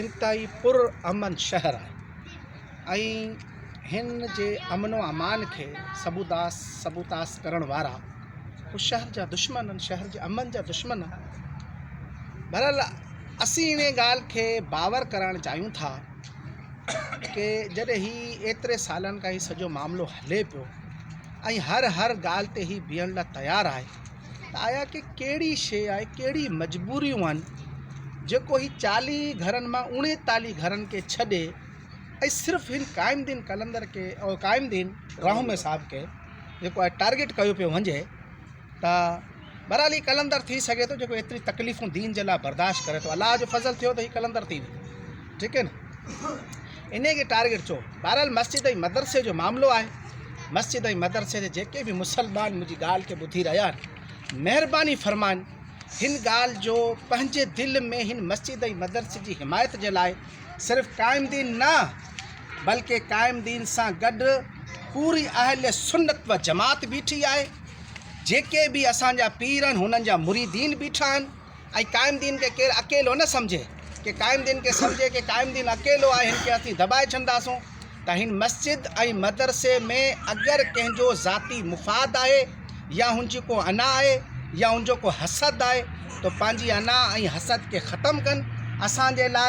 انتهائي پر امن شهر آهي ۽ هن جي امن و امان کي سبوداس سبوتاس ڪرڻ وارا هو شهر جا دشمن آهن شهر جي امن جا دشمن آهن بهرحال اسين انهي ڳالهه کي باور ڪرائڻ چاهيون ٿا ڪي جڏهن هي ايتري سالن کان هي سڄو معاملو هلي پيو ۽ هر هر ڳالهه تي هي بيهڻ لاء تيار آهي ته آيا ڪي ڪهڙي شيء آهي، ڪهڙي مجبوريون آهن، جيڪو هي چاليهه ئي گهرن مان اوڻيتاليهه گهرن کي ڇڏي ۽ صرف هن قائم دين قلندر کي او قائم دين راهومي صاحب کي جيڪو آهي ٽارگيٽ ڪيو پيو وڃي ته بهرحال هي قلندر ٿي سگهي ٿو جيڪو ايتري تڪليفون دين جي لاء برداشت ڪري ٿو الله جو فضل ٿيو ته هي قلندر ٿي ويو ٺيڪ هي نه انهيء کي ٽارگيٽ چئو. بهرحال مسجد ۽ مدرسي جو معاملو آهي. مسجد ۽ مدرسي جا جيڪي به مسلمان منهنجي ڳالهه کي ٻڌي رهيا آهن، مهرباني فرمائن هن ڳالهه جو پنهنجي دل ۾ هن مسجد ۽ مدرسي جي حمايت جي لاء صرف قائم دين نه بلڪه قائم دين سان گڏ پوري اهل سنت و جماعت بيٺي آهي، جيڪي به اسان جا پير آهن هنن جا مريدين بيٺا آهن. ۽ قائم دين کي ڪير اڪيلو نه سمجهي ڪي قائم دين کي سمجهي ڪي قائم دين اڪيلو آهي هن کي اسين دٻائي ڇڏنداسون ته هن مسجد ۽ مدرسي ۾ اگر ڪنهن جو ذاتي مفاد آهي يا هن جي ڪو انا آهي يا هن جو ڪو حسد آهي ته پنهنجي انا ۽ حسد کي ختم ڪن اسان جي لاء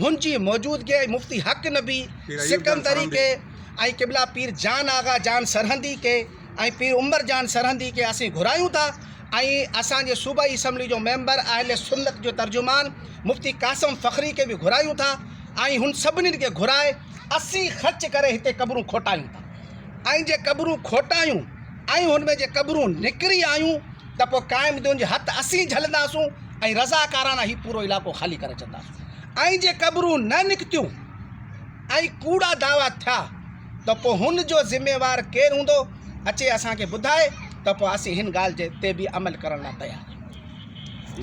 هن جي موجودگيء ۾ مفتي حق نبي سڪندري کي ۽ قبلا پير جان آغا جان سرهندي کي ۽ پير عمر جان سرهندي کي اسين گهرايون ٿا ۽ اسان جي صوبائي اسيمبلي جو ميمبر اهل سنت جو ترجمان مفتي قاسم فخري کي به گهرايون ٿا ۽ هن سڀني کي گهرائي اسين خرچ ڪري هتي قبرون کوٽايون ٿا ۽ جي قبرون کوٽايون ۽ هن ۾ جي قبرون نڪري آيون ته پوء قائم دين جي هٿ اسين جهلنداسون ۽ رضاڪارانه هي پورو علائقو خالي ڪري ڇڏنداسون ۽ جي قبرون نه نڪتيون ۽ ڪوڙا دعويٰ ٿيا ته پوء هن جو ذميوار ڪير هوندو اچي اسان کي ٻڌائي ته پوء اسين هن ڳالهه تي به عمل ڪرڻ لاء تيار آهيون.